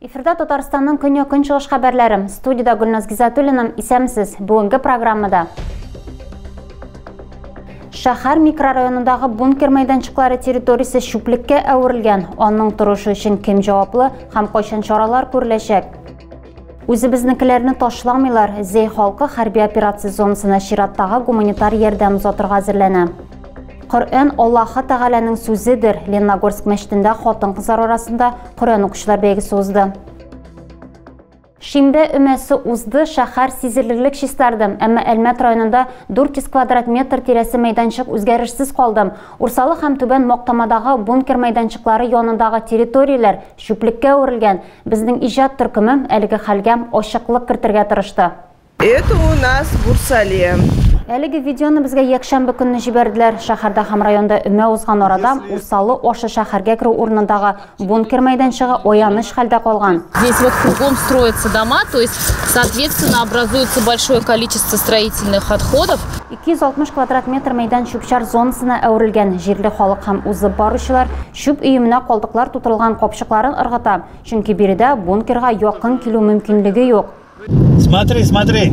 Эфирда Татарстанның көньяк-көнчыгыш хәбәрләре. Студиядә Гөлназ Гизатуллина. Исәмсез. Бүгенге программада Шәһәр микрорайонындагы бункер мәйданчыклары территориясе чүплеккә әверелгән. Аның торышы өчен кем җаваплы һәм кайчан чаралар күреләчәк? Үзебезнекеләрне ташламыйлар, Зей халкы хәрби операция зонасына чираттагы гуманитар ярдәм озатырга әзерләнә. Коръән Аллаһы Тәгаләнең сүзедер. Ленногорск мәчетендә хатын-кызлар арасында Коръән укучылар бәйгесе узды. Шимбә өмәсе узды, шәһәр сизелерлек чистарды, әмма Әлмәт районында 400 квадрат метр тирәсе мәйданчык үзгәрешсез калды. Урсалы һәм Түбән Мактамадагы бункер мәйданчыклары янындагы территорияләр чүплеккә әверелгән. Безнең иҗат төркеме әлеге хәлгә ачыклык кертергә тырышты. Это у нас Бурсале. Әлеге видеоны безгә якшәмбе көнне җибәрделәр. Шәһәрдә һәм районда өмә узган арада Усалы ашы шәһәргә керү урынындагы бункер мәйданчыгы аяныч хәлдә калган. Здесь вот кругом строятся дома, то есть, соответственно, образуется большое количество строительных отходов. 260 квадрат метр мәйдан чүп-чар зонасына әверелгән. Җирле халык һәм узып баручылар Чүп өеменә калдыклар тутырылган капчыкларын ыргыта, чөнки биредә бункерга якын килү мөмкинлеге юк. Смотри, смотри.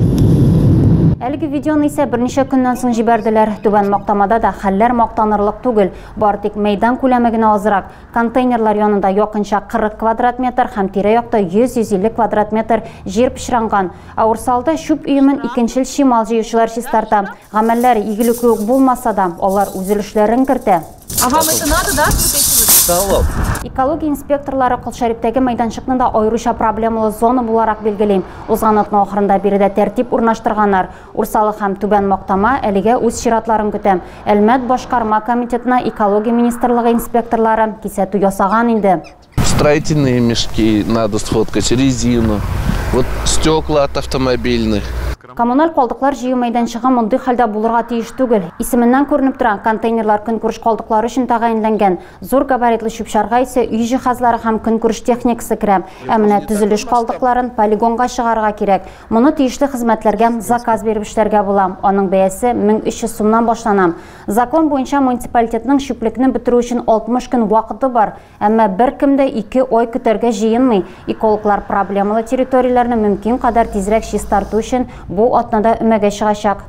Әлеге видеоны исә берничә көннән соң җибәрделәр. Түбән Мактамада да хәлләр мактанырлык түгел. Бары тик мәйдан күләме генә азрак. Контейнерлар янында якынча 40 квадрат метр һәм тирә-якта 100-150 квадрат метр җир пычранган. Ә Урсалда чүп өемен икенчел чимал җыючылар чистарта. Гамәлләр игелекле үк булмаса да, алар үз өлешләрен кертә. А вам это надо, да, вот эти вот? Салоп. Экология инспекторлары Колшәрипдәге мәйданчыкны да аеруча проблемалы зона буларак билгелим. Узган атна ахырында биредә тәртип урнаштырганнар. Урсалык һәм Түбән Мактама әлегә үз чиратларын көтәм. Әлмәт башкарма комитетына экология министрлыгы инспекторлары кисәтү ясаган инде. Строительные мешки надо сфоткать, резину, вот стекла от автомобильных. Коммуналь калдыклар җыю мәйданчыгы мондый хәлдә булырга тиеш түгел. Исеменнән күренеп тора, контейнерлар көнкүреш калдыклары өчен тәгаенләнгән. Зур габаритлы чүп-чарга исә өй җиһазлары һәм көнкүреш техникасы керә. Ә менә төзелеш калдыкларын полигонга чыгарырга кирәк. Моны тиешле хезмәтләргә заказ биреп эшләргә була. Аның бәясе 1300 сумнан башлана. Закон буенча муниципалитетның чүплекне бетерү өчен 60 көн вакыты бар. Әмма беркем дә ике ай көтәргә җыенмый. Экологлар проблемалы территорияләрне мөмкин кадәр тизрәк чистарту өчен бу атнада өмәгә чыгачак.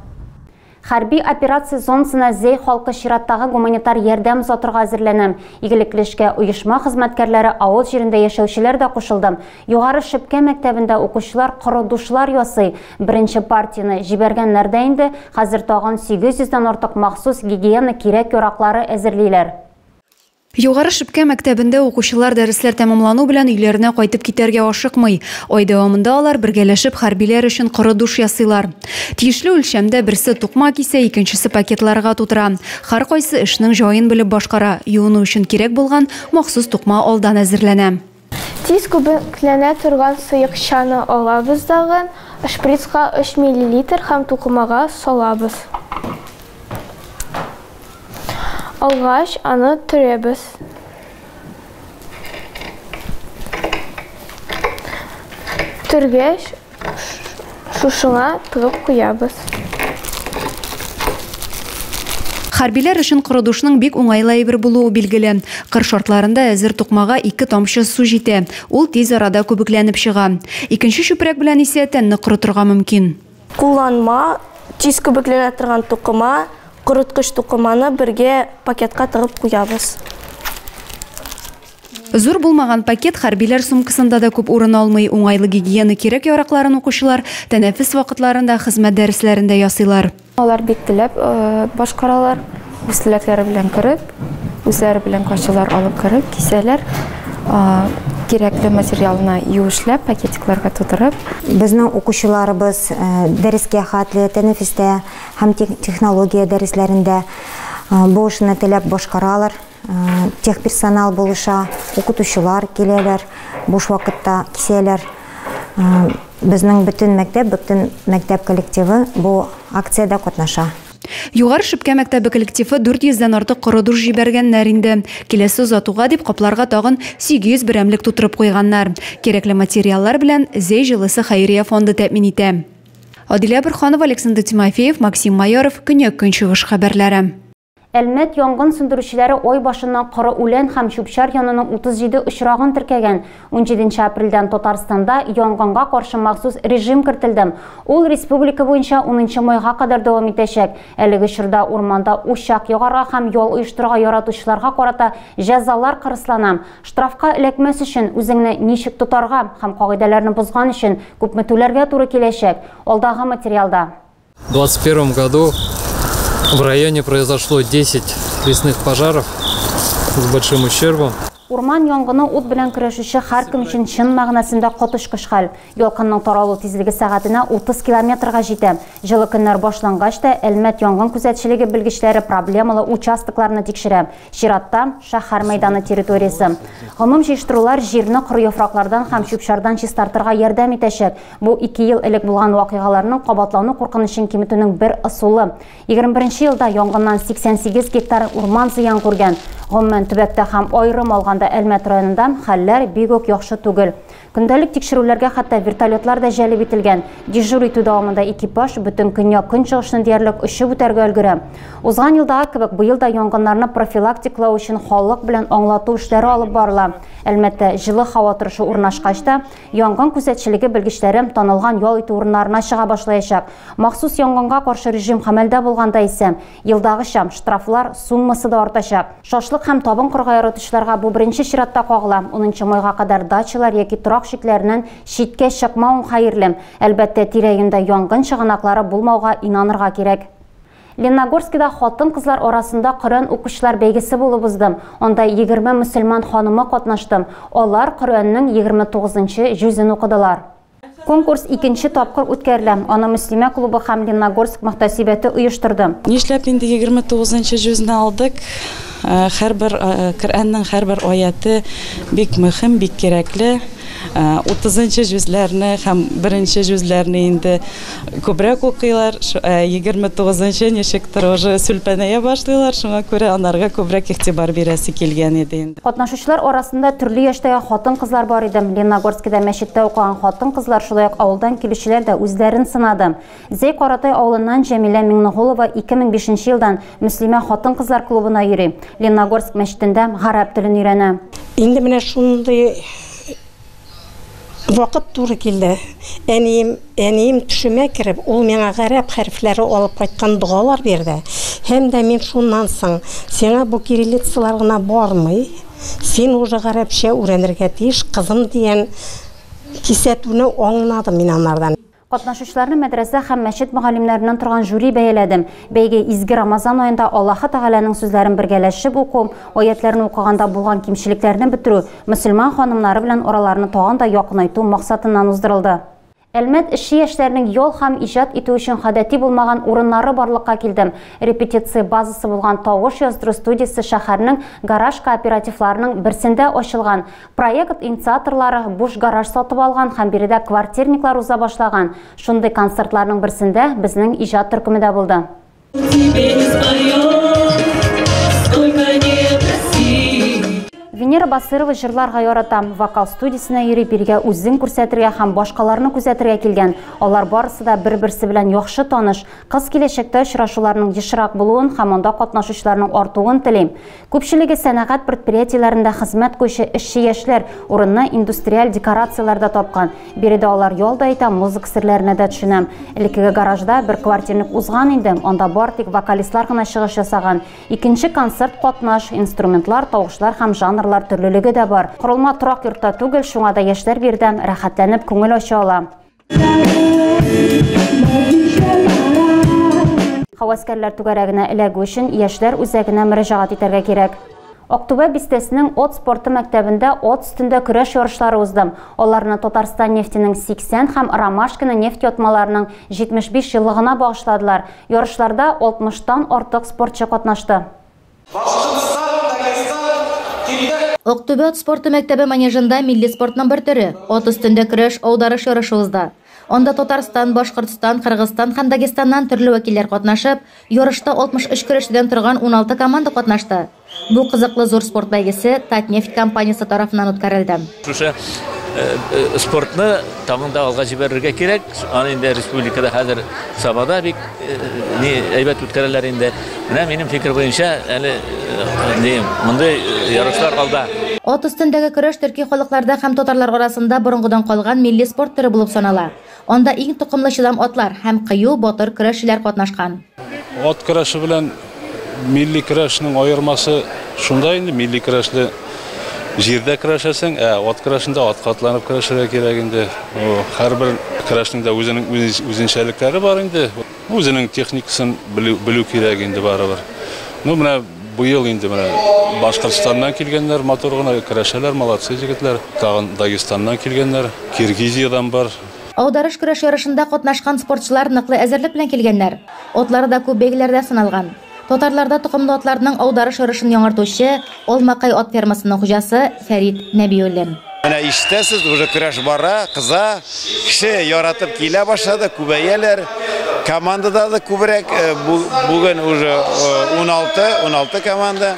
Хәрби операция зонасына Зәй халкы чираттагы гуманитар ярдәм озатырга әзерләнә. Игелекле эшкә оешма хезмәткәрләре, авыл җирендә яшәүчеләр дә кушылды. Югары Шепкә мәктәбендә укучылар коры душлар ясый. Беренче партияне җибәргәннәр дә инде, хәзер тагын 800 дән артык махсус гигиена кирәк-яраклары әзерлиләр. Югары Шепкә мәктәбендә укучылар дәресләр тәмамлану белән өйләренә кайтып китәргә ашыкмый. Ай дәвамында алар бергәләшеп хәрбиләр өчен коры душ ясыйлар. Тиешле үлчәмдә берсе тукма кисә, икенчесе пакетларга тутыра. Һәркайсы эшнең җаен белеп башкара, юыну өчен кирәк булган махсус тукма алдан әзерләнә. Тиз күбекләнә торган сыекчаны алабыз дагы, шприцка 3 миллилитр һәм тукымага салабыз. Алгач, аны төрәбез. Төргәч, Шушыңа пырык куябыз. Хәрбиләр өчен корыдушның бик уңайлы әйбер булуы билгеле. Кыр шартларында әзер тукмага ике тамчы су җитә, ул тиз арада күбекләнеп чыга. Икенче чүпрәк белән исә тәнне корытырга мөмкин. Кулланма, тиз күбекләнә торган тукыма, корыткыч тукыманы бергә пакетка тыгып куябыз. Зур булмаган пакет хәрбиләр сумкасында да күп урын алмый, уңайлы гигиена кирәк-яракларын укучылар тәнәфес вакытларында, хезмәт дәресләрендә ясыйлар. Алар бик теләп башкаралар, үз теләкләре белән кереп, үзләре белән кайчылар алып кереп кисәләр, кирәкле материалны юешләп, пакетикларга тутырып. Безнең укучыларыбыз дәрескә хәтле, тәнәфестә һәм технология дәресләрендә бу эшне теләп башкаралар. Техперсонал булыша, укытучылар киләләр, буш вакытта кисәләр. Безнең бөтен мәктәп, бөтен мәктәп коллективы бу акциядә катнаша. Югары Шепкә мәктәбе коллективы 400 дән артык коры душ җибәргәннәр инде. Киләсе озатуга дип капларга тагын 800 берәмлек тутырып куйганнар. Кирәкле материаллар белән Зәй җылысы хәйрия фонды тәэмин итә. Адилә Борһанова, Александр Тимофеев, Максим Майоров, Көньяк-Көнчыгыш хәбәрләре. Әлмәт янгын сүндерүчеләре ай башыннан коры үлән һәм чүп-чар януның 37 очрагын теркәгән. 17 нче апрельдән Татарстанда янгынга каршы махсус режим кертелде. Ул республика буенча 10 нчы майга кадәр дәвам итәчәк. Әлеге чорда урманда учак ягарга һәм ял оештырырга яратучыларга карата җәзалар кырыслана. Штрафка эләкмәс өчен, үзеңне ничек тотарга һәм кагыйдәләрне бозган өчен күпме түләргә туры киләчәк, алдагы материалда. В 2021 году в районе произошло 10 лесных пожаров с большим ущербом. Урман янгыны ут белән көрәшүче һәркем өчен чын мәгънәсендә коточкыч хәл. Ялкынның таралу тизлеге сәгатенә 30 километрга җитә. Җылы көннәр башлангач та, Әлмәт янгын күзәтчелеге белгечләре проблемалы участокларны тикшерә. Чиратта, шәһәр мәйданы территориясе. Гомум җыештырулар җирне коры яфраклардан һәм чүп-чардан чистартырга ярдәм итәчәк. Бу ике ел элек булган вакыйгаларның кабатлану куркынычын киметүнең бер ысулы. 21 елда янгыннан 88 гектар урман зыян күргән. Гомумән, төбәктә һәм аерым алганда Әлмәт районында хәлләр бик үк яхшы түгел. Көндәлек тикшерүләргә хәтта вертолетлар да җәлеп ителгән. Дежур итү дәвамында экипаж бөтен көньяк-көнчыгышны диярлек очып үтәргә өлгерә. Узган елдагы кебек быел да янгыннарны профилактиклау өчен халык белән аңлату эшләре алып барыла. Әлмәттә җылы һава торышы урнашкач та, Янгын күзәтчелеге белгечләре танылган ял итү урыннарына чыга башлаячак. Махсус янгынга каршы режим хәмәлдә булганда исә, елдагыча, штрафлар суммасы да артачак. Шашлык һәм табын кырга яратучыларга бу беренче чиратта кагыла. Унынчы майга кадәр дачалар яки торак чикләреннән читкә чыкмавың хәерле. Әлбәттә, тирә-юньдә янгын чыганаклары булмауга инанырга кирәк. Ленногорскида хатын-кызлар арасында Коръән укучылар бәйгесе булып узды. Анда егерме мөселман ханымы катнашты. Алар Коръәннең егерме тугызынчы җүзен укыдылар. Конкурс икенче тапкыр үткәрелә. Аны Мөслимә клубы һәм Ленногорск мөхтәсибәте оештырды. Нишләп инде егерме тугызынчы җүзне алдык? Һәрбер Коръәннең һәрбер аяте бик мөһим, бик кирәкле. Утызынчы җүзләрне һәм беренче җүзләрне инде Күбрәк укыйлар, егерме тугызынчы ничектер уже сүлпәнәя башлыйлар, шуңа күрә анарга күбрәк игътибар бирәсе килгән иде инде. Катнашучылар арасында төрле яшьтәге хатын-кызлар бар иде. Лениногорскида мәчеттә укыган хатын-кызлар, шулай ук авылдан килүчеләр дә үзләрен сынады. Зәй Каратай авылыннан Җәмилә Миңнегулова ике мең бишенче елдан Мөслимә хатын-кызлар клубына йөри, Лениногорск мәчетендә гарәп телен өйрәнә. Инде менә шундый Вакыт туры килде. Әнием, әнием төшемә кереп, ул миңа гарәп хәрефләре алып кайткан догалар бирде. Һәм дә мин шуннан соң, Сиңа бу кириллицалар гына бармый, син уже гарәпчә үрәнергә тиеш, кызым, дигән кисәтүне аңладым мин анардан. Катнашучыларны мәдрәсә һәм мәчет мөгаллимнәреннән торган жюри бәяләдем. Бәйге изге Рамазан аенда Аллаһы Тәгаләнең сүзләрен бергәләшеп уку, аятьләрне укыганда булган кимчелекләрне бетерү, мөселман ханымнары белән араларны тагын да якынайту максатыннан уздырылды. Әлмәт эшче яшьләренең ял һәм иҗат итү өчен гадәти булмаган урыннары барлыкка килдем. Репетиция базасы булган Тавыш яздыру студиясе шәһәрнең гараж кооперативларының берсендә ачылган. Проект инициаторлары буш гараж сатып алган һәм биредә квартирниклар уза башлаган. Шундый концертларның берсендә безнең иҗат төркеме дә булды. Венера Басырова җырларга ярата. Вокал студиясенә йөри, биргә үзен күрсәтергә һәм башкаларны күзәтергә килгән. Алар барысы да бер-берсе белән яхшы таныш. Кыз киләчәктә очрашуларның ешрак булуын һәм анда катнашучыларның артуын тели. Күпчелеге сәнәгать предприятиеләрендә хезмәт куючы эшче яшьләр урынны индустриаль декорацияләрдә тапкан. Биредә алар ял да итә, музыка серләренә дә төшенә. Элеккеге гаражда бер квартирник узган инде, анда бары тик вокалистлар гына чыгыш ясаган. Икенче концерт катнаш, инструментлар, тавышлар һәм жанрлар төрлелеге дә бар. Корылма торак йортта түгел, шуңа да яшьләр биредә рәхәтләнеп күңел ача ала. Хаваскәрләр түгәрәгенә эләгү өчен яшьләр үзәгенә мөрәҗәгать итәргә кирәк. Актүбә бистәсенең от спорты мәктәбендә от өстендә көрәш ярышлары узды. Аларны Татарстан нефтенең 80 һәм Ромашкина нефть ятмаларының 75 еллыгына багышладылар. Ярышларда 60 тан артык спортчы катнашты. Башкортстан, Дагестан, Килдек! Актүбә ат спорты мәктәбе манежында милли спортның бер төре, ат өстендә көрәш, аударыш ярышы узды. Анда Татарстан, Башкортстан, Кыргызстан һәм Дагестаннан төрле вәкилләр катнашып, ярышта 63 көрәшчедән торган 16 команда катнашты. Бу кызыклы зур спорт бәйгесе Татнефть компаниясе тарафыннан үткәрелде. Шушы спортны тагын да алга җибәрергә кирәк. Аны инде республикада хәзер Сабада бик ни әйбәт үткәрәләр инде. Менә минем фикер буенча, әле дим, мондый ярышлар алда. Ат өстендәге көрәш төрки халыкларда һәм татарлар арасында борынгыдан калган милли спорт төре булып санала. Анда иң токымлы чыдам атлар һәм кыю, батыр көрәшчеләр катнашкан. Ат көрәше белән милли көрәшнең аермасы шунда инде, милли көрәшне җирдә көрәшәсең, ә ат көрәшендә атка атланып көрәшергә кирәк инде. Һәрбер көрәшнең дә үзенең үзенчәлекләре бар инде. Үзенең техникасын белү, белү кирәк инде барыбер. Ну, менә быел инде менә Башкортстаннан килгәннәр, матур гына көрәшәләр, молодцы җегетләр. Тагын Дагестаннан килгәннәр, Киргизиядән бар. Аударыш көрәш ярышында катнашкан спортчылар ныклы әзерлек белән килгәннәр. Атлары да күп бәйгеләрдә сыналган. Татарларда токымлы атларның аударыш орышын яңартучы Алмакай ат фермасының хуҗасы Фәрит Нәбиуллин. Менә ишетәсез, уже көрәш бара, кыза, кеше яратып килә башлады, күбәяләр. Командада да күбрәк, бүген уже 16, 16 команда.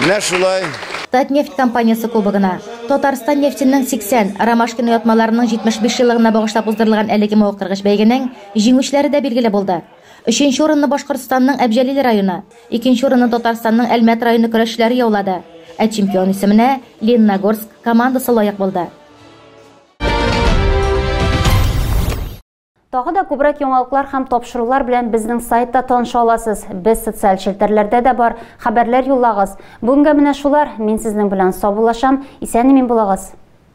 Менә шулай. Татнефть компаниясе кубогына, Татарстан нефтенең 80, Ромашкин оятмаларының 75 еллыгына багышлап уздырылган әлеге мавыктыргыч бәйгенең җиңүчеләре дә билгеле булды. Өченче урынны Башкортстанның Әбҗәлил районы, икенче урынны Татарстанның Әлмәт районы көрәшчеләре яулады, ә чемпион исеменә Лениногорск командасы лаек булды. Тагы да күбрәк яңалыклар һәм тапшырулар белән безнең сайтта таныша аласыз. Без социаль челтәрләрдә дә бар. Хәбәрләр юллагыз. Бүгенгә менә шулар. Мин сезнең белән саубуллашам. Исән-имин булыгыз.